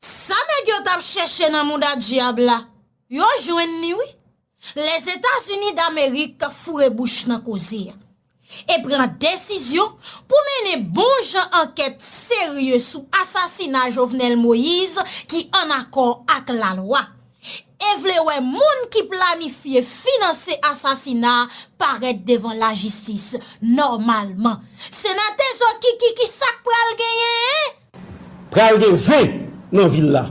Sa nèg yo tap chèche nan mouda dyab la, yo jwenn li wi. Lèzetazini damerik foure bouch nan koze a. E pran desizyon pou mennen bon jan ankèt serye sou asasina Jovenel Moise ki an akò ak lalwa. E vle wè moun ki planifye finanse asasina a parèt devan lajistis nòmalman. Senatè Zokiki kisak pral genyen? Pral gen zen nan vil la.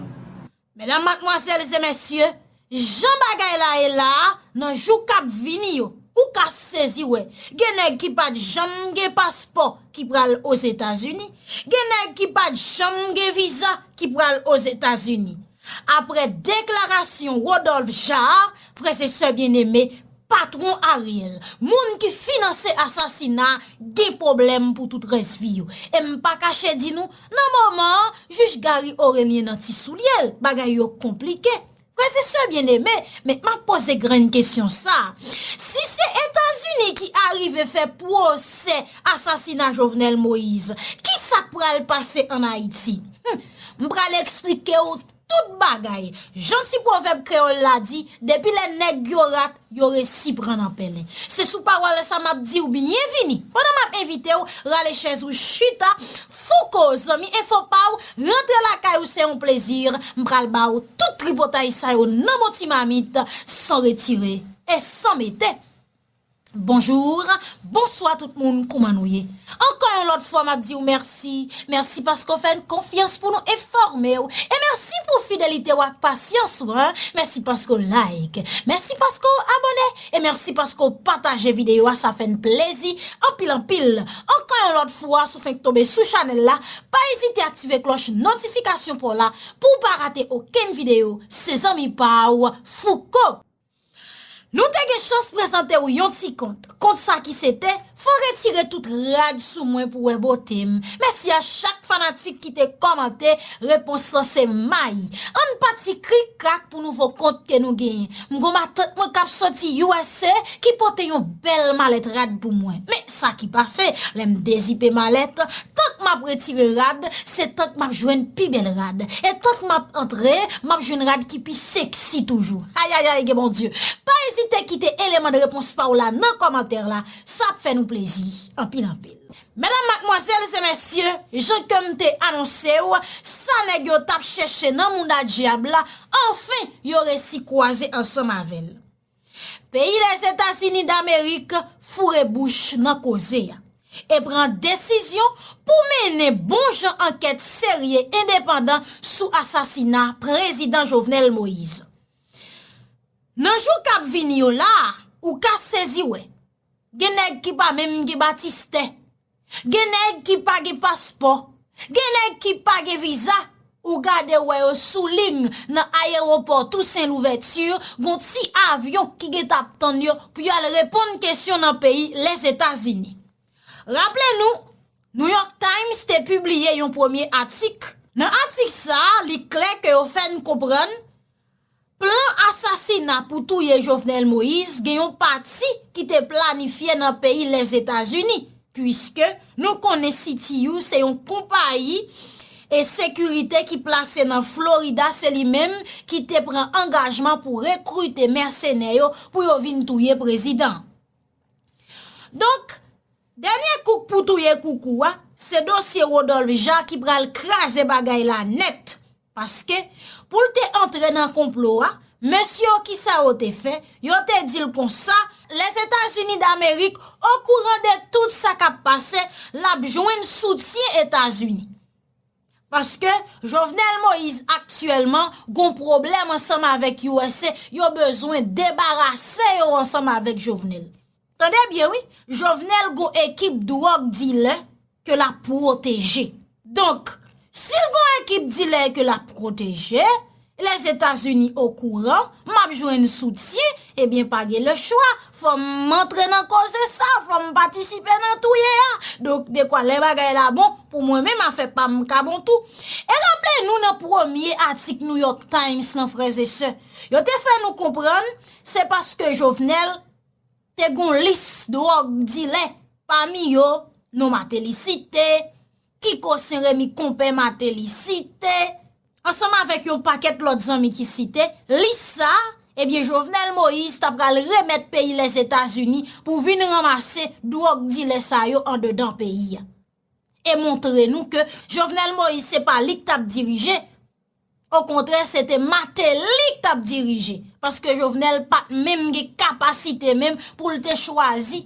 Medam, matmwazèl e mesye, jan bagay la ye la a, nan jou k ap vini yo, ou ka sezi wè, gen nèg ki pa t janm gen paspò ki pral Ozetazini, gen nèg ki pa t janm gen viza ki pral Ozetazini. apre deklarasyon Rodolphe Jaar, frè se sè byen eme, patwon Ariel, moun ki finanse asasina, gen pwoblèm pou tout rès vi yo. E m pa kache di nou, nan moman an, jij Garry Orélien nan ti soulye l, bagay yo konplike. Frè se sè byen eme, men m ap poze grenn kesyon sa a, si se Etazini ki arive fè pwosè, Asasina Jovenel Moise. Kisak pral pase an Ayiti? Hum! M pral eksplike w tout bagay. Jan ti pwovèb kreyòl la di, depi lè nèg yo rat, yo resi pran nan pèlen. Se sou pawòl sa m ap di w byenvini, pandan m ap envite w rale chèz ou chita, Fouco, zanmi enfo pa w, rantre lakay ou se yon plezi, m pral ba w tout tripotay sa yo nan bon ti mamit, san retire e san mete. Bonjour Bonswa tout moun kouman nou ye Ankò yon lòt fwa map diw mèsi Mèsi paske w fè n konfyans pou nou enfòme w E mèsi pou fidelite w ak pasyans ou an Mèsi paske w like Mèsi paske w abòne E mèsi paske w pataje videyo a sa fè n plezi anpil anpil Ankò yon lòt fwa si w fenk tonbe sou chanèl la Pa ezite aktive klòch notifikasyon pa w la Pou w pa rate okenn videyo Se zanmi pa w Fouco. Nou te gen chans prezante w yon ti kont. Kont sa ki se te, Fò retire tout rad sou mwen pou wè bote m. Mèsi a chak fanatik ki te kòmante, repons lan se may. An n pati krik krak pou nouvo kont ke nou genyen. M gon matant mwen k ap soti usa ki pote yon bèl malèt rad pou mwen. Men sa ki pase, lè m dezipe malèt, Tank m ap retire rad, se tank m ap jwenn pi bèl rad. E tank m ap antre, m ap jwenn rad ki pi seksi toujou. Ayayay gen Bondye! Pa ezite kite eleman de repons pa w la nan kòmantè la, sa ap fè nou plezi anpil anpil. Medam, madmwazèl e mesye, jan ke m te anonse w, sa nèg yo t ap chèche nan mouda dyab la, anfen yo resi kwaze ansanm avè l. Peyi Lèzetazini Damerik foure bouch nan koze a e pran desizyon pou mennen bon jan ankèt serye endepandan sou asasina Prezidan Jovenel Moise. Nan jou k ap vini yo la a, ou ka sezi wè, gen nèg ki pa menm gen batistè. Gen nèg ki pa gen paspò, gen nèg ki pa gen viza, ou gade ou wè yo sou ling nan ayewopò Tousen Louvèti, gon ti avyon ki gen ta ap tann yo pou yo al reponn kesyon nan peyi Lèzetazini. Raple nou, New York Times te pibliye yon premye atik, nan atik sa a li klè ke yo fè n konprann, Plan asasina pou touye Jovenel Moïse gen yon pati ki te planifye nan peyi Lèzetazini, puiske nou konnen CTU se yon konpayi e sekirite ki plase nan Florida se li menm ki te pran angajman pou rekrite mèsenè yo pou yo vin touye prezidan. Donk, dènye kouk pou touye koukou a, se dosye Rodolphe Jean ki pral kraze bagay la nèt. Paske, pou l te antre nan konplo a, mesye yo ki sa yo te fè, yo te di l konsa, Lèzetazini Damerik okouran de tout sa k ap pase, l ap jwenn soutyen Etazini. Paske Jovenel Moise aktyèlman gon pwoblèm ansanm avèk usa yo bezwen debarase yo ansanm avèk Jovenel. Tande byen wi, Jovenel gon ekip dwòg dilè ke l ap pwoteje. Donk, si l gon ekip dilè ke l ap pwoteje, Lèzetazini okouran map jwenn soutyen ebyen pa gen le chwa fòm antre nan koze sa fòm patisipe nan touye a donk dekwa lè bagay la bon pou mwen menm afè pam ka bon tou e raple nou nan premye atik New York Times lan frèzesè yo te fè nou konprann se paske Jovenel te gon lis dròg dilè pami yo non Mateli site Kiko Senremi konpè Mateli site. ansanm avèk yon pakèt lòt zanmi ki site, lis sa, ebyen Jovenel Moïse ta pral remèt peyi Lèzetazini pou vin ranmase dwòg dilè sa yo andedan peyi a. E montre nou ke Jovenel Moïse se pa li k t ap dirije, okontrè se te Martelly k t ap dirije, paske Jovenel pa t menm gen kapasite menm pou l te chwazi,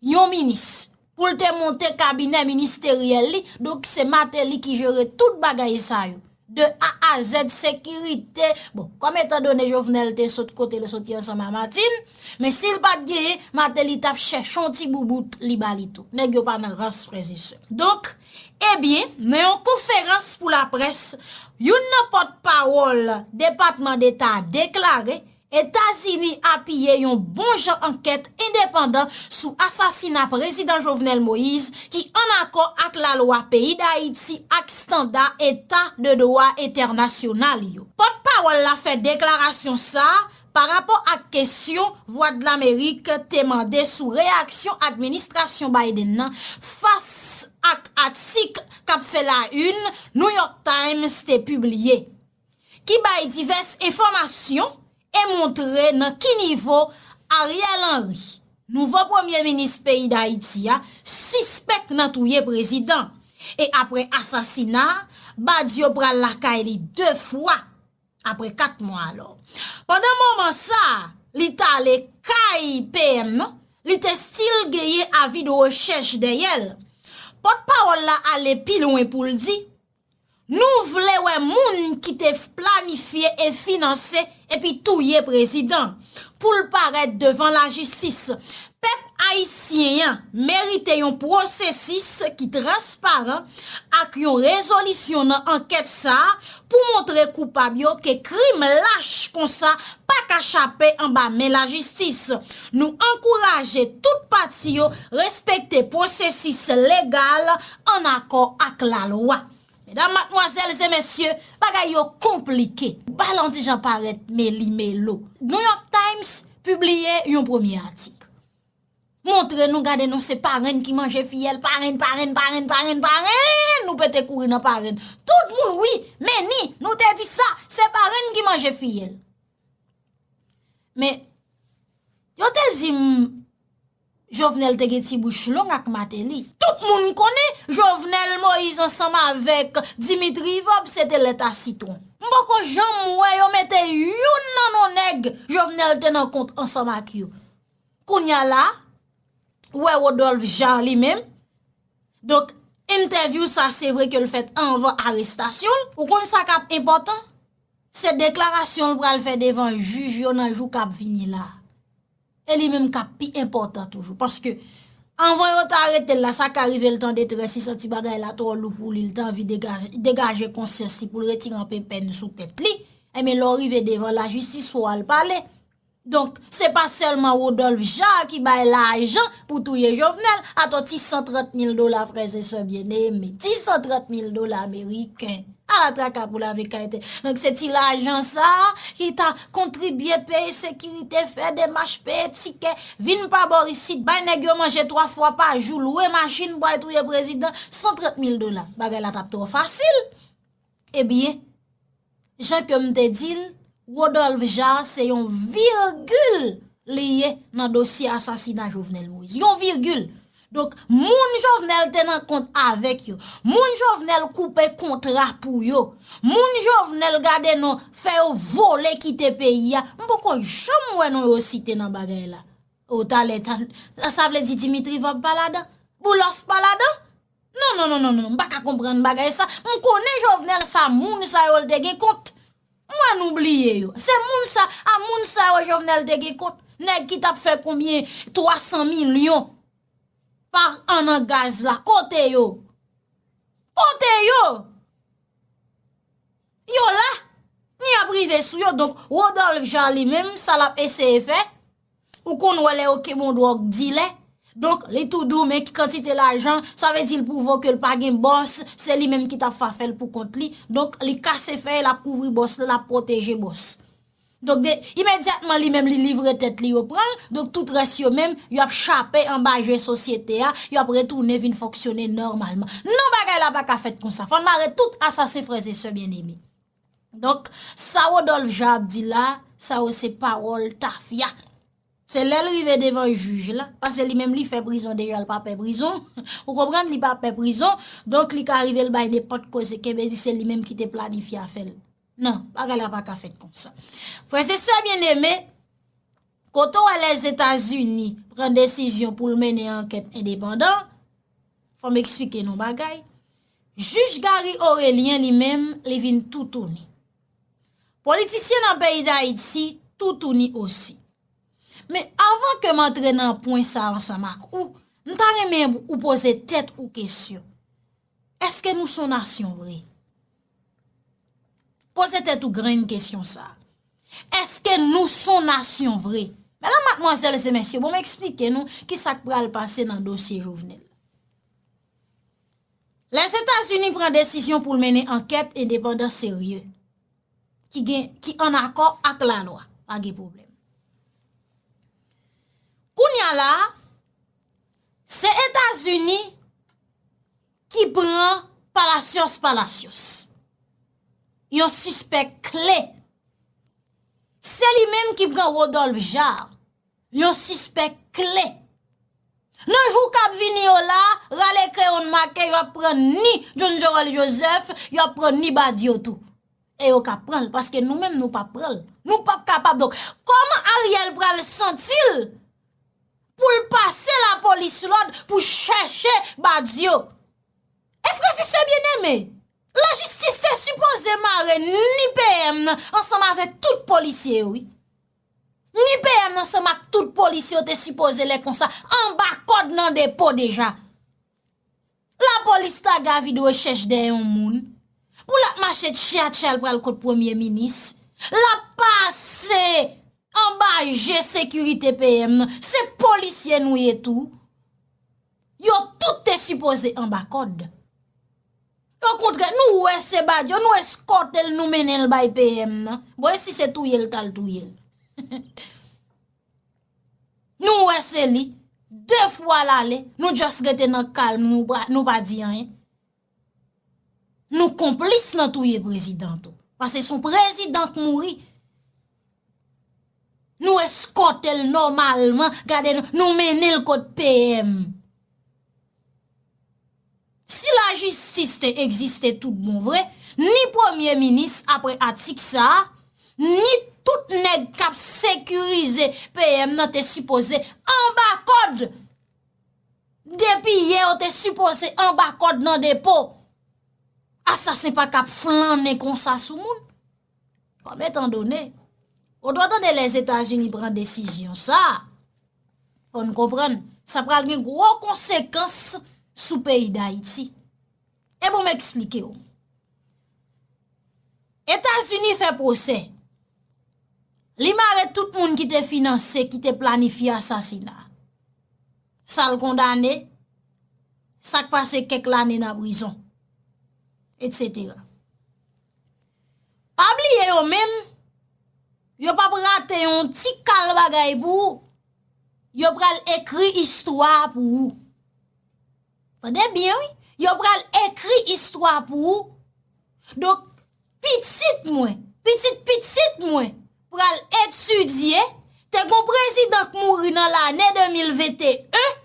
Yon minis. Pou l te monte kabinè ministeryèl li, donk se Mateli ki jere tout bagay sa yo. De A a Z, sekirite, bon, kòm etan done Jovenel te sot kote l soti ansanm a Matin, men si l pa t genyen, Mateli t ap chèche yon ti boubout li ba li tou. Nèg yo pa nan rans, frèz e sè. Donk, ebyen, nan yon konferans pou laprès, youn nan pòtpawòl Depatman Deta a deklare, Etazini apiye yon bon jan ankèt endepandan sou asasina Prezidan Jovenel Moïse ki an akò ak lalwa peyi Dayiti ak standa eta de dwa entènasyonal yo. Pòt pawòl la fè deklarasyon sa pa rapò ak kesyon Vwadlamerik te mande sou reyaksyon administrasyon Biden nan fas ak atik kap fè la yn New York Times te pibliye. ki bay divès enfòmasyon e montre nan ki nivo Ariel Henry, nouvo premye minis peyi Dayiti a, sispèk nan touye prezidan. E apre asasina a, Badio pral lakay li 2 fwa apre 4 mwa alò. Pandan moman sa a, li t ale kay PM nan, li te stil genyen avi de rechèch dèyè l. Pòtpawòl la ale pi lwen pou l di. Nou vle wè moun ki te planifye e finanse epi touye prezidan, pou l parèt devan lajistis. Pèp ayisyen an merite yon pwosesis ki transparan ak yon rezolisyon nan ankèt sa a pou montre koupab yo ke krim lach konsa pa ka chape anba men lajistis. Nou ankouraje tout pati yo respekte pwosesis legal an akò ak lalwa. Medam, matmwazèl e mesye, bagay yo konplike. Balanti Jean Parèt meli melo. New York Times pibliye yon premye atik. Montre nou gade nou se parenn ki manje fiyèl, parenn, parenn, parenn, parenn, parenn, nou pete kouri nan parenn. Tout moun wi, men ni, nou te di sa, se parenn ki manje fiyèl. Men, yo te di m, Jovenel te gen ti bouch long ak Mateli. Tout moun konnen, Jovenel Moïse ansanm avèk Dimitri Vob se te lèt a sitwon. M poko janm wè yo mete youn nan non nèg Jovenel te nan kont ansanm ak yo. Kounya la, ou wè Rodolphe Jaar li menm, donk entèvyou sa se vre ke l fèt anvan arestasyon l. Ou konn sa k ap enpòtan? Se deklarasyon l pral fè devan jij yo nan jou k ap vini la. E li menm kap pi enpòtan toujou. Paske, anvan yo ta aretel la, sa ka rive l tan detrès, li santi bagay la twò lou pou li, li tan anvi degaje konsyans li pou l retire anpe pèn sou tèt li, enben lè w rive devan lajistis fò w al pale. Donk, se pa sèlman Rodolph Jaar ki bay lajan pou touye Jovenel, atò ti 130 mil dola frèzesè byeneme, ti 130 mil dola meriken. Ala traka pou lave kay te. Donk se ti lajan sa a ki ta kontribye peye sekirite, fè demach, peye tikè, vin pa bor isit, bay nèg yo manje 3 fwa pa jou, lwe machin pou al touye prezidan, 130 mil dola. Bagay la t ap twò fasil. Ebyen, jan ke m te di l. Rodolphe Jaar se yon virgil li ye nan dosye asasina Jovenel Moïse. Yon virgil. Donk, moun Jovenel te nan kont avèk yo, moun Jovenel koupe kontra pou yo, moun Jovenel gade non fè yo vole kite peyi a, m poko janm wè non yo site nan bagay la. O talè, sa vle di Dimitri Vorbe pa ladan? Boulos pa ladan? Non non non non non m pa ka konprann bagay sa m konnen jovenel sa moun sa yo l te gen kont m wè nou bliye yo se moun sa a moun sa yo jovenel te gen kont nèg ki tap fè konbyen 300 milyon par an nan gaz la kote yo kote yo yo la nou yap rive sou yo donk Rodolphe jean li menm sa lap eseye fè Ou konn wè lè yo ke bon dwòg dilè, donk li tou dou men ki kantite lajan, sa vle di l pwouve w ke l pa gen bòs, se li menm ki t ap fa fè l pou kont li, donk li kase fèy, l ap kouvri bòs li, l ap pwoteje bòs. Donk de, imedyatman li menm li livre tèt li yo pran l, donk tout rès yo menm, yo ap chape anba je sosyete a, yo ap retounen vin fonksyone nòmalman. Non bagay la pa ka fèt konsa, fò n mare tout asasen frè e sè byeneme. Donk sa Rodolphe Jean ap di la, sa yo se pawòl tafya. Se lè l rive devan jij la, pase li menm li fè prizon deja l pa pè prizon, ou konprann li pa pè prizon, donk li ka rive l bay nenpòt koze kenbe di se li menm ki te planifye afè l. Non, bagay la pa ka fèt kon sa. Frè se sè byen eme, kote w wè lèzetazini pran desizyon pou l mennen ankèt endepandan, Fò m eksplike n yon bagay, jij Garry Orélien li menm li vin toutouni. Politisyen nan peyi Dayiti toutouni osi. Men avan ke m antre nan pwen sa ansanm ak ou, m ta renmen ou poze tèt ou kesyon, èske nou s on nasyon vre? Poze tèt ou grenn kesyon sa. Eske nou son nasyon vre? Mèdam matmwazèl e se mèsye, bon m eksplike nou ki sa k pral pase nan dosye Jovenel. Lèzetazini pran desisyon pou l mennen ankèt endepandan serye, ki an akò ak la lwa. Pa gen pwoblèm. Kounya la, se Etazini. ki pran palasyos palasyos yon sispèk kle se li menm ki pran Rodolphe Jaar yon sispèk kle nan jou kap vini yo la rale kreyon make yo ap pran ni John Joel Joseph yo ap pran ni Badio tou e yo ka pran l paske nou menm nou pap pran l nou pap kapab donk koman Ariel pral santi l pou l pase lapolis lòd pou chèche Badio. E frè si sè byeneme, lajistis te sipoze mare ni PM nan ansanm avèk tout polisye yo wi. Ni PM nan ansanm ak tout polisye yo te sipoze lè konsa anba kòd nan depo deja. La polis ta gavi dwe chèch dèyè yon moun pou lap mache tchya tchya l pral kot premye minis lap pase anba je sekirite PM nan se polisye nou ye tou yo tout te sipoze anba kòd o kontrè nou wè se badyo nou eskòte l nou mennen l bay PM nan bon e si se touye l tal touye l. Nou wè se li, 2 fwa lale, nou just rete nan kalm nou, nou pa di anyen. Nou konplis nan touye prezidan tou. Pase son prezidan k mouri. Nou eskote l nomalman, gade nou, nou mennen l kot PM. Si lajistis te egziste tout bon vre, ni premye minis apre atik sa a, ni tout nèg k ap sekirize PM nan te sipoze anba kòd! Depi yè yo te sipoze anba kòd nan depo! Asasen pa ka ap flannen konsa sou moun. Kòm etan done, ou dwe tande Lèzetazini pran desizyon sa, fò n konprann, sa pral gen gwo konsekans sou peyi Dayiti. E bon m eksplike ou. Etazini fè pwosè. Li mare tout moun ki te finanse, ki te planifye asasina. Sa l kondane, sa k pase kèk lane nan prizon. Etc. Pa bliye yo menm, yo pap rate yon ti kal bagay pou ou, yo pral ekri istwa a pou ou. Tande byen wi, yo pral ekri istwa a pou ou. Donk, pitit mwen, pitit pitit mwen pral etidye, te gon prezidan k mouri nan lane 2021,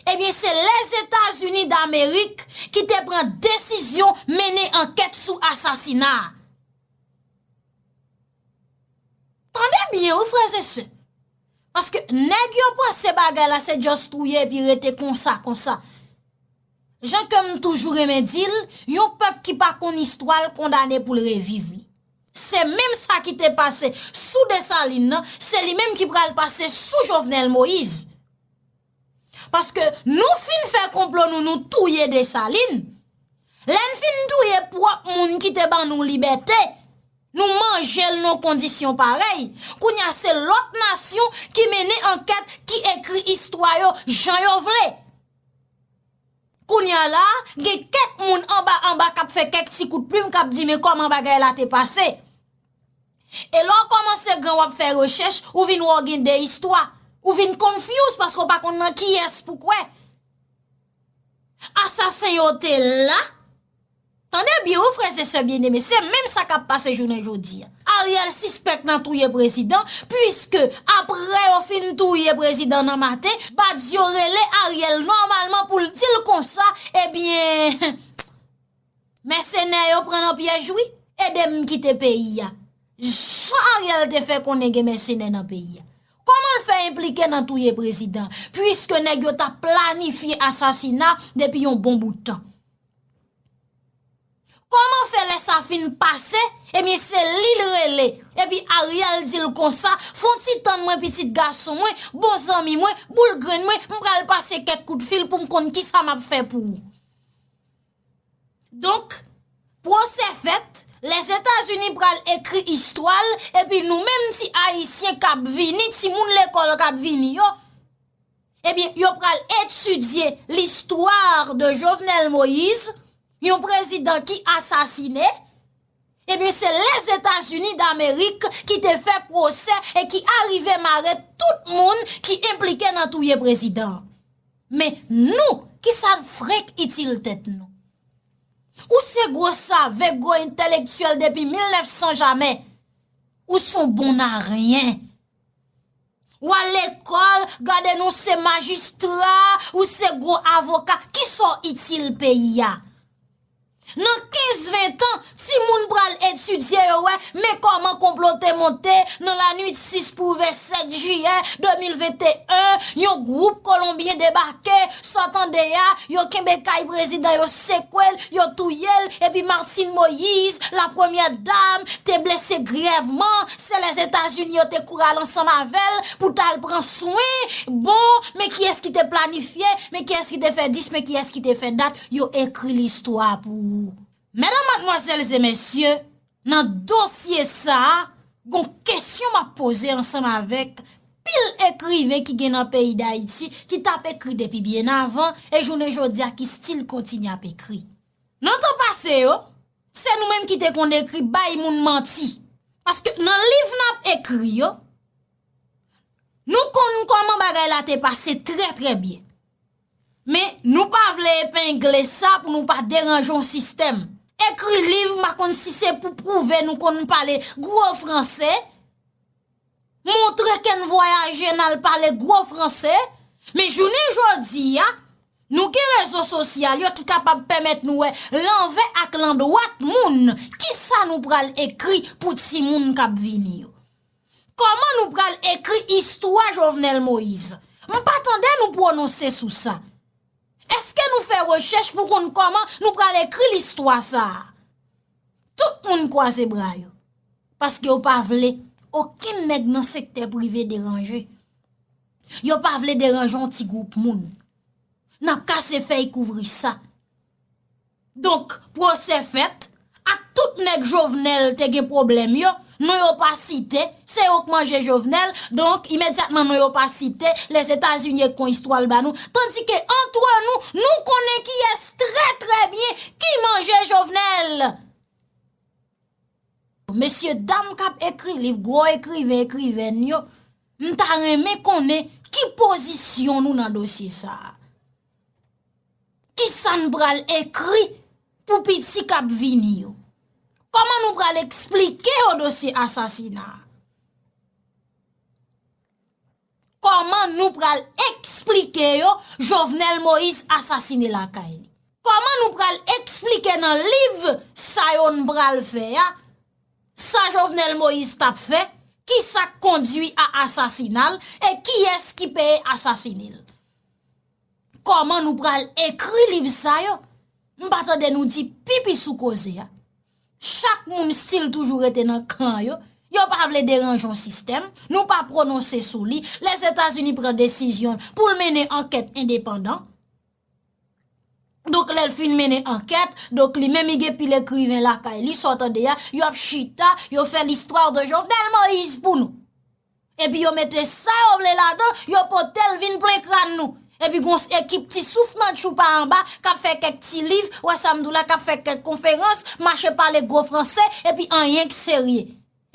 Ebyen se Lèzetazini Damerik ki te pran desizyon mennen ankèt sou asasina a. Tande byen wi frè ze se. Paske nèg yo panse bagay la se just touye epi rete konsa konsa. Jan ke m toujou renmen di l, yon pèp ki pa konn istwa l kondane pou l reviv li. Se menm sa ki te pase sou Desalin nan, se li menm ki pral pase sou Jovenel Moise. Paske nou fin fè konplo nou nou touye Desalin, lè n fin touye pwòp moun ki te ban nou libète, nou manje l nan kondisyon parèy, kounye a se lòt nasyon ki mennen ankèt, ki ekri istwa yo jan yo vle. Kounye a la, gen kèk moun anba anba k ap fè kèk ti kout plim k ap di men kòman bagay la te pase. E lè w kòmanse gran w ap fè rechèch, ou vin wè w gen de istwa. Ou vin confuse paske w pa konn nan kiyès pou kwè. Asasen yo te la. Tande byen wi frèz e sè byeneme, se menm sa k ap pase jounen jodi. Ariel sispèk nan touye prezidan, puiske apre yo fin touye prezidan nan maten, Badio rele Ariel nòmalman pou l di l konsa, ebyen. Mèsenè yo pran nan pyèj wi, ede m kite peyi a. Jan Ariel te fè konnen gen mèsenè nan peyi a. Kòman l fè enplike nan touye prezidan, puiske nèg yo t ap planifye asasina depi yon bon bout tan. Kòman fè lè sa fin pase, ebyen se li l rele, epi Ariel di l konsa, fon ti tann mwen pitit gason mwen, bon zanmi mwen, boul grenn mwen, m pral pase kèk kout fil pou m konn kisa m ap fè pou ou. Donk, pwosè fèt, Lèzetazini pral ekri istwa l, epi nou menm ti Ayisyen k ap vini, timoun lekòl k ap vini yo, ebyen yo pral etidye l'histoire de Jovenel Moïse, yon prezidan ki asasine. Ebyen se Lèzetazini Damerik ki te fè pwosè e ki arive mare tout moun ki enplike nan touye prezidan an. Men nou, ki sa n frenk itil tèt nou? Ou se gwo save, gwo entelektyèl depi 1900 jamè, ou s on bon aryen. Ou al lekòl, gade nou se majistra, ou se gwo avoka, kisa w itil peyi a? Nan 15, 20 tan, timoun pral etidye yo wè, men kòman konplo te monte nan lanwit 6 pou ouvè 7 jiyè 2021, yon gwoup kolonbyen debake, sa w tande a, yo kenbe kay prezidan yo sekwe l, yo touye l, epi Martine Moïse, la premyè dam, te blese grèvman, Se lè Etazini yo te koural ansanm avè l pou t al pran swen, bon, men kiyès ki te planifye, men kiyès ki te fè dis, men kiyès ki te fè dat, yo ekri listwa pou ou. Medanm, madmwazèl e mesye, nan dosye sa a, gon kesyon m ap poze ansanm avèk pil ekriven ki gen nan peyi Dayiti ki t ap ekri depi byen avan e jounen jodi a ki stil kontinye ap ekri. Nan tan pase yo, se nou menm ki te konn ekri bay moun manti. Paske nan liv n ap ekri yo, nou konn kòman bagay la te pase trè trè byen. Men, nou pa vle epengle sa pou nou pa deranje yon sistèm. Ekri liv, m pa konn si se pou pwouve nou konn pale gwo franse, Montre ke n vwayaje n al pale gwo franse, men jounen jodi a, nou gen rezo sosyal yo ki kapab pèmèt nou wè lanvè ak landwat moun ki sa nou pral ekri pou timoun k ap vini yo. Kòman nou pral ekri istwa Jovenel Moïse? M pa tande nou pwononse sou sa. Eske nou fè rechèch pou konn kòman nou pral ekri listwa sa a? Tout moun kwaze bra yo. Paske yo pa vle okenn nèg nan sektè prive deranje. Yo pa vle deranje yon ti gwoup moun. N ap kase fèy kouvri sa. Donk, pwosè fèt, ak tout nèg Jovenel te gen pwoblèm yo, Non yo pa site, se yo k manje Jovenel, donk imedyatman non yo pa site, Lèzetazini ek kon istwa l ba nou, tandike antre nou, nou konnen kiyès trè trè byen ki manje Jovenel! Mesye dam k ap ekri liv, gwo ekriven, ekrivèn yo, m ta renmen konnen ki pozisyon nou nan dosye sa a? Kisa n pral ekri pou piti k ap vini yo? Kòman nou pral eksplike yo dosye asasina a? Kòman nou pral eksplike yo Jovenel Moïse asasine lakay li? Kòman nou pral eksplike nan liv sa yo n pral fè a, sa Jovenel Moïse t ap fè, ki sa k kondui a asasina l, e kiyès ki peye asasine l? Kòman nou pral ekri liv sa yo? M pa tande nou di pipi sou koze a. Chak moun stil toujou rete nan kan yo. Yo pa vle deranje yon sistèm. Nou pa pwononse sou li. Lèzetazini pran desizyon l pou l mennen ankèt endepandan. Donk lè l fin mennen ankèt, donk li menm li gen pil ekriven lakay li, sa w tande a, yo ap chita, yo fè listwa de Jovenel Moïse pou nou. Epi yo mete sa yo vle ladan, yo pote l vin plen kran nou. Epi gon ekip ti souf nan tchoupa anba k ap fè kèk ti liv, ou wè sa m di w la, k ap fè kèk konferans, mache pale gwo franse, epi anyen k serye.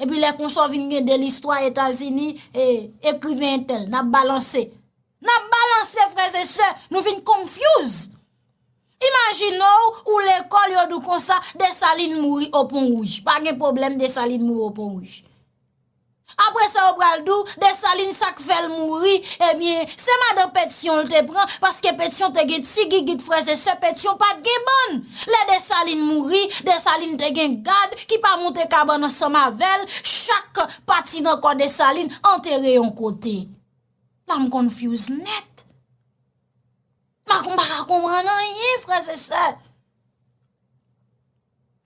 Epi lè konsa w vin gen de listwa Etazini, e, ekriven entèl, n ap balanse. N ap balanse frèzesè, nou vin konfyouz. Imajine w, ou lekòl yo di w konsa, Desalin mouri o Pon Wouj. Pa gen pwoblèm Desalin mouri o Pon Wouj. Apre sa yo pral di w Desalin sa k fè l mouri ebyen se madan Petyon l te pran paske Petyon te gen ti gigit frèz e sè Petyon pa t gen bann. Lè Desalin mouri, Desalin te gen gad ki pa monte kabann ansanm avè l, chak pati nan kò Desalin antere yon kote. La m confuse nèt. M pa konprann anyen frèz e sè.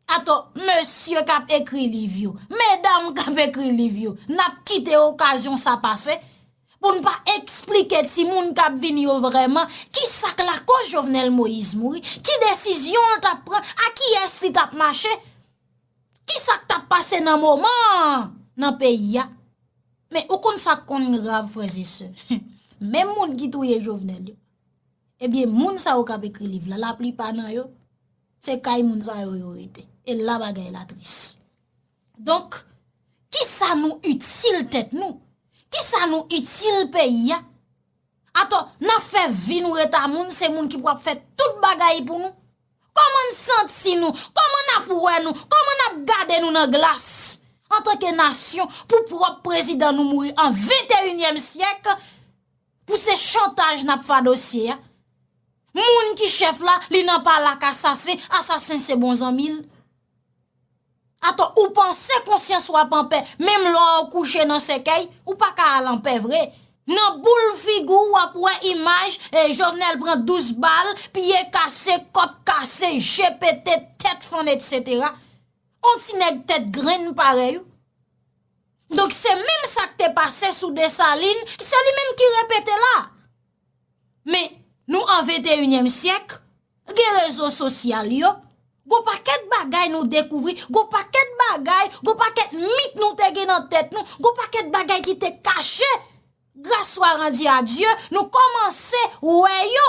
Atò, mesye k ap ekri liv yo, medam k ap ekri liv yo, n ap kite okazyon sa pase pou n pa esplike timoun k ap vini yo vrèman ki sa k lakoz Jovenel Moïse mouri, ki desizyon l t ap pran, a kiyès li t ap mache, ki sa k t ap pase nan moman an nan peyi a. Men, ou konn sa k konn grav, frèzesè, menm moun ki touye Jovenel yo, ebyen moun sa yo k ap ekri liv la, laplipa nan yo, Se kay moun sa yo yo rete. E la bagay la tris. Donk, ki sa nou itil tèt nou? Ki sa nou itil peyi ya? Ato, nan fè vi nou reta moun, se moun ki pou ap fè tout bagay pou nou? Koman n santi nou? Koman n ap wè nou? Koman n ap gade nou nan glas? Antanke nasyon, pou pwòp prezidan nou mouri an 21 èm syèk, Pou se chantaj nap fa dosye a. Moun ki chef la li nan pale ak asasen, asasen se bon zanmi l. Ato ou panse konsyans wap anpè menm lè ou kouche nan sèkèy ou pa ka al anpè vre. Nan boul figi w wap wè imaj e Jovenel pran 12 bal, pye kase, kòt kase, je pete, tèt fann etc. On ti nèg tèt grenn parèy ou. Donk se menm sa k te pase sou Desalin, se li menm ki repete la. Men, nou an venteyinyèm syèk, gen rezo sosyal yo, gon pakèt bagay nou dekouvri, gon pakèt bagay, gon pakèt mit nou te gen nan tèt nou, gon pakèt bagay ki te kache, gras swa randi a Dye, nou kòmanse wè yo.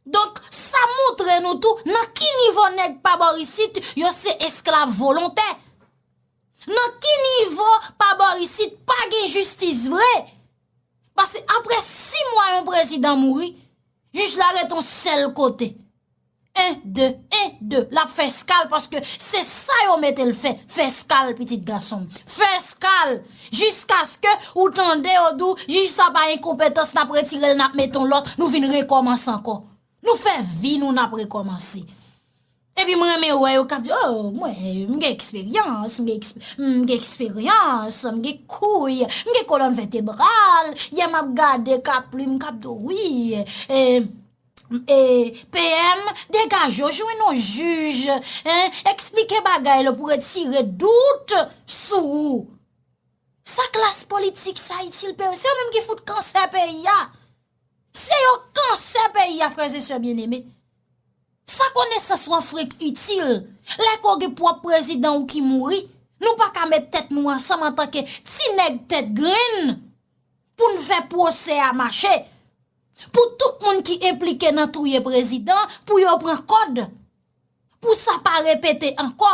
Donk, sa montre nou tou nan ki nivo nèg pa bò isit yo se esklav volontè. Nan ki nivo pa bò isit pa gen jistis vre. Pase apre 6 mwa yon prezidan mouri, jij la ret yon sèl kote. 1, 2, 1, 2, l ap fè skal paske se sa yo mete l fè, fè skal pitit gason m. Fè skal! Jiskaske ou tande yo di w jij sa pa enkonpetans n ap retire l n ap mete yon lòt, nou vin rekòmanse ankò. Nou fè vi nou n ap rekòmanse. Epi m renmen wè yo k ap di o mwen m gen eksperyans, m gen eksperyans, m gen kouy, m gen kolòn vètebral, yè m ap gade K-Plim k ap di w wi. PM, degaj yo, jwenn yon jij, hein, eksplike bagay la pou retire dout sou ou. Sa klas politik sa itil PM, se yo menm ki fout kansè peyi a. Se yo kansè peyi a, frères et sœurs bien-aimés. Sa konesans wan frenk itil, lè ke w gen pwòp prezidan ou ki mouri, nou pa ka met tèt nou ansanm antanke ti nèg tèt grenn, pou n fè pwosè a mache, pou tout moun ki enplike nan touye prezidan pou yo pran kòd, pou sa pa repete ankò.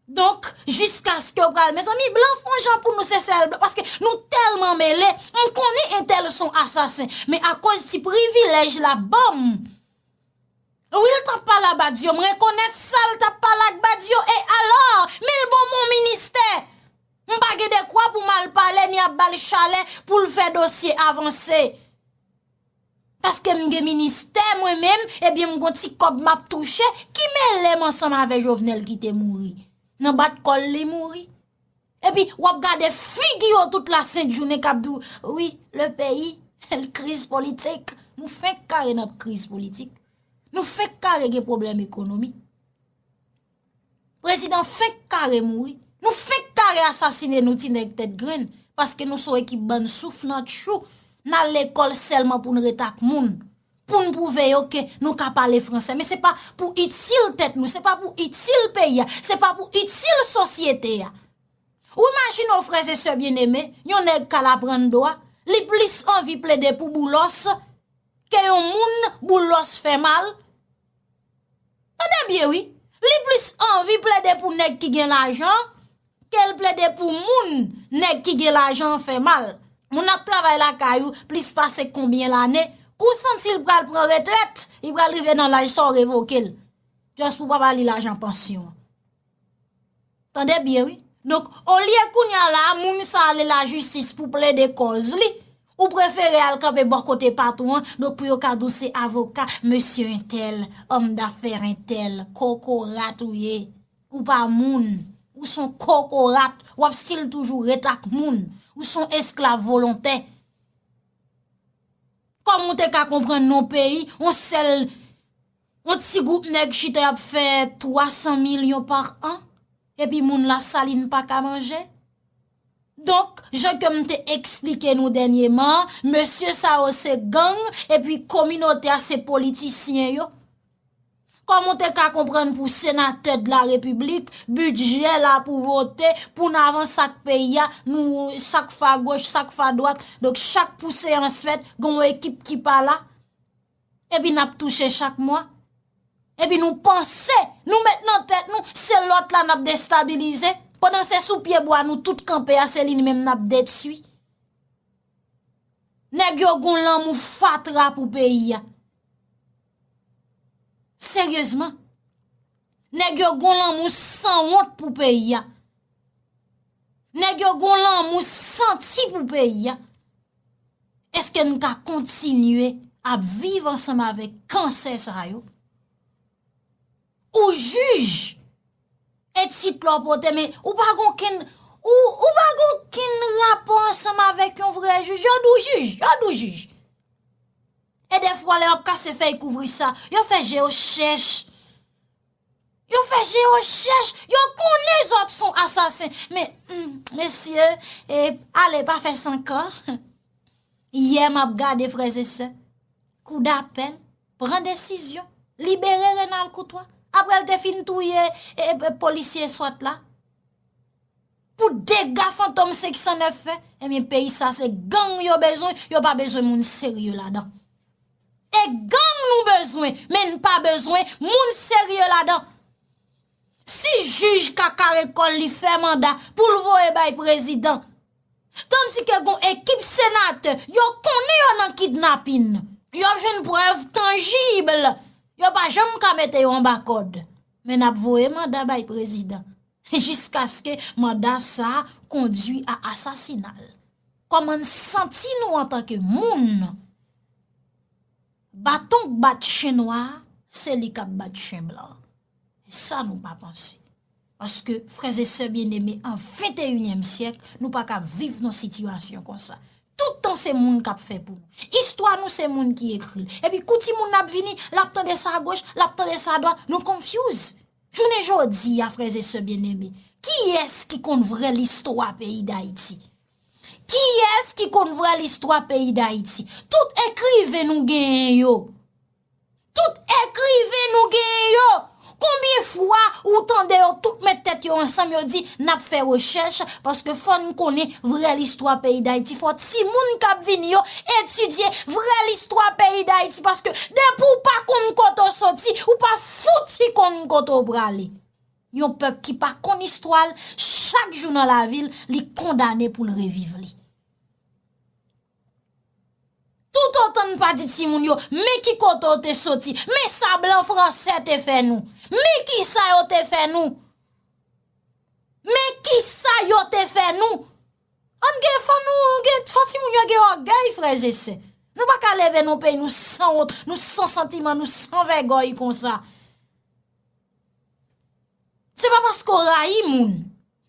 Donk, jiskaske ou pral, mezanmi, blan fon jan pou nou se sèl blan, paske nou tèlman mele, m konnen entèl son asasen, men akoz ti privilèj la ban m, wi l t ap pale a Badio, m rekonèt sa l t ap pale ak Badio, e alò, men l ban m yon ministè, M pa gen dekwa pou m al pale ni ap ba l chalè pou l fè dosye avanse. Paske m gen ministè mwen menm, ebyen m gon ti kòb m ap touche ki mele m ansanm avè Jovenel ki te mouri. Nan bat kò l li mouri. Epi w ap gade figi yo tout la sent jounen k ap di w wi le peyi l kriz politik. Nou fenk kare nan kriz politik. Nou fenk kare gen pwoblèm ekonomi. Prezidan fenk kare mouri, nou fenk kare asasine nou ti nèg tèt grenn, paske nou son ekip bann souf nan tchou, nan lekòl sèlman pou n ret ak moun, pou n pwouve yo ke nou ka pale fransè, men se pa pou itil tèt nou, se pa pou itil peyi a, se pa pou itil sosyete a. Ou imajine w frè e sè byeneme, yon nèg kal aprann dwa, li plis anvi plede pou Boulos, ke yon moun Boulos fè mal, Tande byen wi, li plis anvi plede pou nèg ki gen lajan ke l plede pou moun nèg ki gen lajan an fè mal. Moun ap travay lakay ou plis pase konbyen lane, kou w santi l pral pran retrèt, li pral rive nan laj sa w revoke l. Just pou pa ba li lajan pansyon. Tande byen wi. Donk, olye kounya la a moun sa ale lajistis pou plede kòz li, ou prefere al kanpe bò kote patwon an, donk pou yo ka di w se avoka mesye entèl, òm dafè entèl, kokorat ou ye. Ou pa moun. Ou son kokorat. W ap stil toujou ret ak moun. Ou son esklav volontè. Kòman ou te ka konprann nan yon peyi, yon sèl Yon ti group nèg chita yap fè 300 milyon par an epi moun la saline pa ka manje. Donk jan ke m te eksplike nou dènyeman, mesye sa yo se gang epi kominote a se politisyen yo. Kòman w te ka konprann pou senatè de la repiblik, bidjè la pou vote, pou n avans ak peyi a, nou sak fa goch, sak fa dwat, donk chak pou seyans fèt, gen yon ekip ki pa la. epi nap touche chak mwa, epi nou panse nou met nan tèt nou se lòt la nap destabilize, pandan se sou pye bwa nou tout kanpe a se li n menm nap detui. Nèg yo gon lanmou fatra pou peyi a. Seryezman. Nèg yo gon lanmou sanwont pou peyi a. Nèg yo gon lanmou santi pou peyi a. Eske n ka kontinye ap viv ansanm avèk kansè sa yo? Ou jij e tit la w pote men ou pa gen okenn ou pa gen okenn rapò ansanm avèk yon vrè jij. Yo di w jij, yo di w jij. E dèfwa lè yo ap kase fèy kouvri sa, yo fè je yo chèch. Yo fè je yo chèch, yo konnen zòt son asasen. Men, mesye, e, ale pa fè sankan. Yè map gade frèzesè, kou dapèl, pran desizyon, libere Renal Koutwa, aprèl te fin touye, e, e, polisye swat la. Pou dega fantom 509 fè, e men peyi sa se gang yo bezwen, yo pa bezwen moun serye ladan. E gang nou bezwen men n pa bezwen moun serye ladan. Si jij kakare kòl li fè manda pou l voye bay prezidan. Tandis ke gon ekip senatè yo konnen yo nan kidnapin. Yo ap jwenn prèv tangible. Yo pa janm ka mete yo anba kòd. Men n ap voye manda bay prezidan. Jiskaske manda sa kondui a asasinal. Kòman n santi nou antanke moun. Baton k bat chen nwa a, se li k ap bat chen blan an. E sa nou pa panse. Paske, frèzesè byeneme, an venteyinyèm syèk, nou pa ka viv nan sitiyasyon konsa. Toutan se moun k ap fè pou nou. Istwa nou se moun ki ekri l. Epi kou ti moun nan ap vini, l ap tande sa agoch, l ap tande sa adwat, nou konfyouz. Jounen jodi a, frèzesè byeneme, kiyès ki konn vrè listwa peyi Dayiti? Kiyès ki konn vrè listwa peyi Dayiti? Tout ekriven nou genyen yo. Tout ekriven nou genyen yo. Konbyen fwa ou tande yo tout met tèt yo ansanm yo di n ap fè rechèch paske fò n konnen vrè listwa peyi Dayiti. Fò timoun k ap vini yo etidye vrè listwa peyi Dayiti paske depi w pa konn kote w soti, ou pa fouti konn kote w prale. Yon pèp ki pa konn istwa l, chak jou nan lavi l, li kondane pou l reviv li. Toutotan n pa di timoun yo, men ki kote w te soti, men sa blan franse te fè nou, men ki sa yo te fè nou, men ki sa yo te fè nou, an gen fò nou, gen fò timoun yo gen ògèy frè ze sè. Nou pa ka leve nan peyi nou san wont, nou san santiman, nou san vègòy konsa. Se pa paske w rayi moun,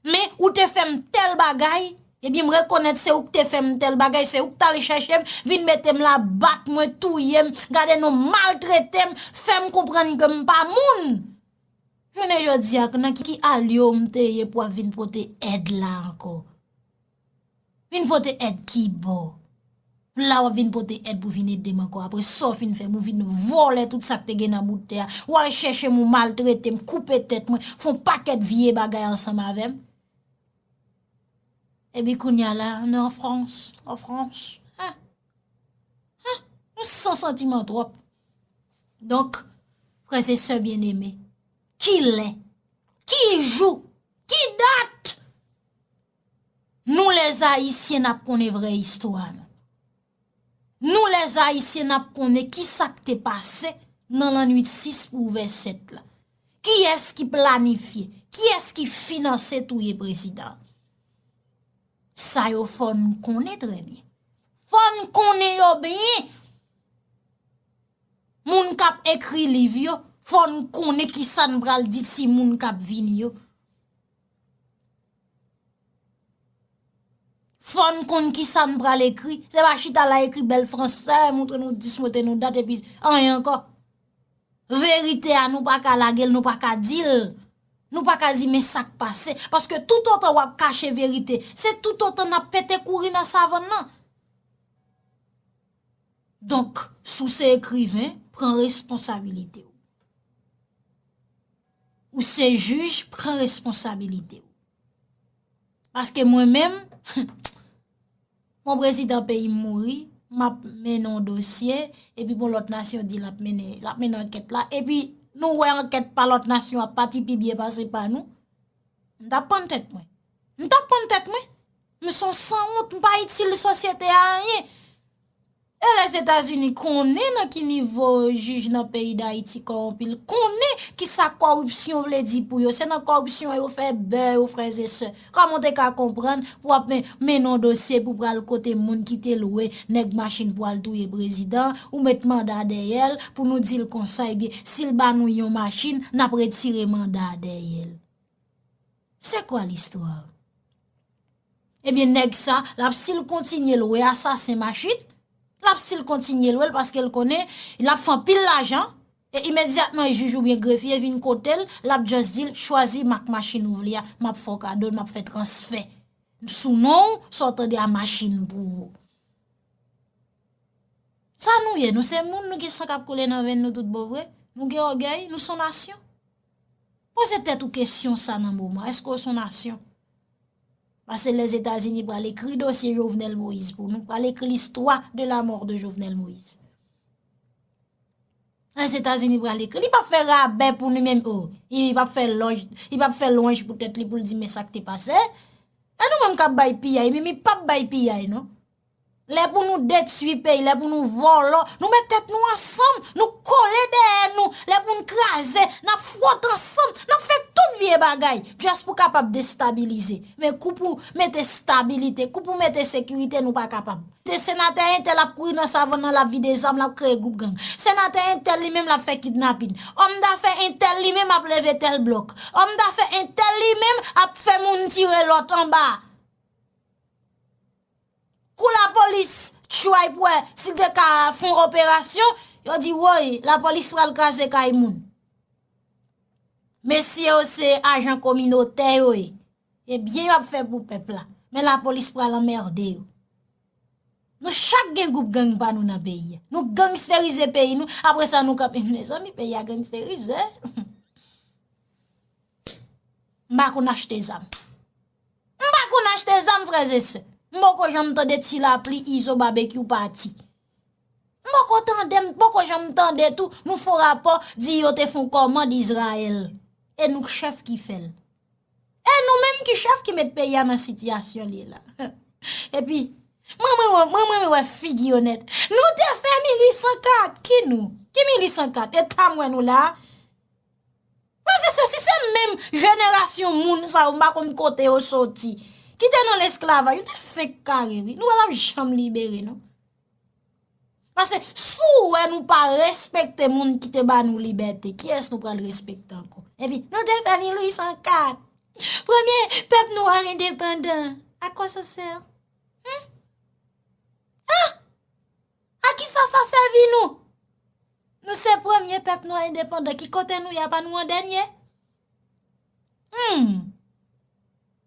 men ou te fè m tèl bagay, ebyen m rekonèt se ou k te fè m tèl bagay, se ou k t al chèche m, vin mete m la, bat mwen, touye m, gade non, maltrete m, fè m konprann ke m pa moun. Jounen jodi a, nan ki alyo m te ye pou w ap vin pote èd la ankò? Vin pote èd kibò? La wap vin pote èd pou vin edem ankò apre sa w fin fè m ou vin vòlè tout sak te gen nan bout tè a ou al chèche m ou maltrete m koupe tèt mwen fon pakèt vye bagay ansanm avè m epi kounya la nou an frans an frans ha ha nou san santiman twòp donk frè se sè byen eme ki lè ki jou ki dat Nou les ayisyen nap konnen vrè istwa nou. Nou les ayisyen nap konnen ki sak te pase nan lannwit 6 pou ouvè 7 la. Kiyès ki planifye, kiyès ki finanse touye prezidan. Sa yo fò n konnen trè byen. Fò n konnen yo byen. Moun kap ekri liv yo, fò n konnen kisa n pral di ti moun kap vini yo. Fòn konn kisa n pral ekri. Se pa chita la ekri bèl fransè, moutre nou dis, moutre nou dat epi anyen ankò. Verite a nou pa ka lage l, nou pa ka di l. Nou pa ka di men sa k pase. Paske toutotan w ap kache verite, se toutotan n ap pete kouri nan savann nan. Donk, si w se ekriven, pran responsabilite w. Ou se jij, pran responsabilite w. Paske mwen menm, bon prezidan peyi m mouri, m ap mennen yon dosye, epi bon lòt nasyon di l ap mennen ankèt la, epi nou wè ankèt pa lòt nasyon ap pati pi byen pase pa nou, m t ap pann tèt mwen. M t ap pann tèt mwen. M son sanwont m pa itil sosyete a anyen e les etats unis konnen nan ki nivo jij nan peyi dayiti kowonpi l konnen ki sa koripsyon vle di pou yo se nan koripsyon an yo fè bè yo frè ze sè koman w te ka konprann pou ap men men non dosye pou pral kote moun ki te lwe nèg machin pou al touye prezidan ou met manda dèyè l pou nou di l konsa ebyen si l ba nou yon machin n ap retire manda dèyè l. C'est quoi l'histoire? Ebyen nèg sa lap sil kontinye lwe asasen machin, lap sil kontinye lwel paske l konnen lap fè anpil lajan e imedyatman jij oubyen grefye vin kotel lap just dil chwazi mak machin ou vle a map fè w kadol map fè transfè sou non ou sa w tande a machin pou ou. Sa nou ye nou se moun nou gen san kap koule nan venn nou tout bon vre nou gen ògèy nou son nasyon. Poze tèt ou kesyon sa nan moman, eske ou son nasyon? Pase lè Zetazini pral ekri dosye Jovenel Moïse pou nou, pral ekri listwa de la mort de Jovenel Moïse. Lè Zetazini pral ekri, li pa fè rabè pou nou menm ou, li pa fè lòj, li pa fè lòj pou tèt li pou li di men sa k te pase, e nou menm kap bay piyay, mi mi pap bay piyay non. Lè pou nou detui peyi, lè pou nou vòlò, nou met tèt nou ansanm, nou kole dèyè nou, lè pou nou kraze, n ap fwote ansanm, n ap fè tout vye bagay, just pou kapab destabilize. Men kou pou mete stabilite, kou pou mete sekirite nou pa kapab. Te senatè entèl ap kouri nan savann nan l ap vide zam, l ap kreye gwoup gang. Senatè entèl li menm l ap fè kidnapin. Òm dafè entèl li menm ap leve tèl blòk. Òm dafè entèl li menm ap fè moun tire lòt anba. Kou lapolis tchway pou wè si l te ka fon operasyon, yo di woy, lapolis pral kraze kay moun. Mesye yo se ajan kominotè yo ye, e byen yo ap fè pou pèp la, men lapolis pral anmerde yo. Nou chak gen goup gang pa nou nan peyi. Nou gangsterize peyi nou, apre sa nou kap, mezanmi peyi a gangsterize. M pa konn achte zam. M pa konn achte zam frèz e sè. M poko janm tande ti lapli izo babekyou pati. M poko tande m poko janm tande tou nou fon rapò di yo te fon kòmand izrael. E nou k chèf ki fèl. E nou menm ki chèf ki met peyi a nan sitiyasyon li ye la. E pi m renmen wè figi yo nèt. Nou te fè 1804 ki nou? Ki 1804? E ta m wè nou la. Pase sosi se menm jenerasyon moun sa yo m pa konn kote yo soti ki te nan lesklavaj yo te fenk kare wi nou pa tap janm libere non pase si w wè nou pa respekte moun ki te ba nou libète kiyès nou pral respekte ankò epi nou te fè 1804 premye pèp nwa endepandan a kò sa sè hum ah. A kisa sa sèvi nou? Nou se premye pèp nwa endepandan ki kote nou ye apa nou an dènye? Humm!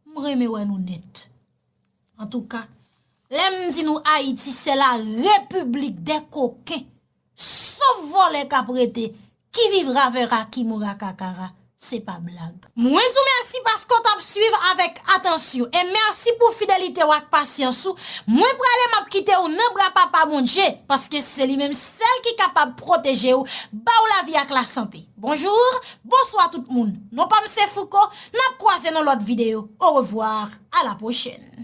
M renmen wè nou nèt. Antouka, lè m di nou Ayiti se la repiblik dè koken, sof vòlè k ap rete Ki vivra vera ki moura kakara se pa blag. Mwen di w mèsi paske w t ap swiv avèk atansyon e mèsi pou fidelite w ak pasyans ou, mwen prale m ap kite w nan bra papa Bondye paske se li menm sèl ki kapab pwoteje w ba w lavi ak lasante. Bonjour, bonswa tout moun, non pa m se Fouco, n ap kwaze nan lòt videyo, orevwa, a la pwochèn.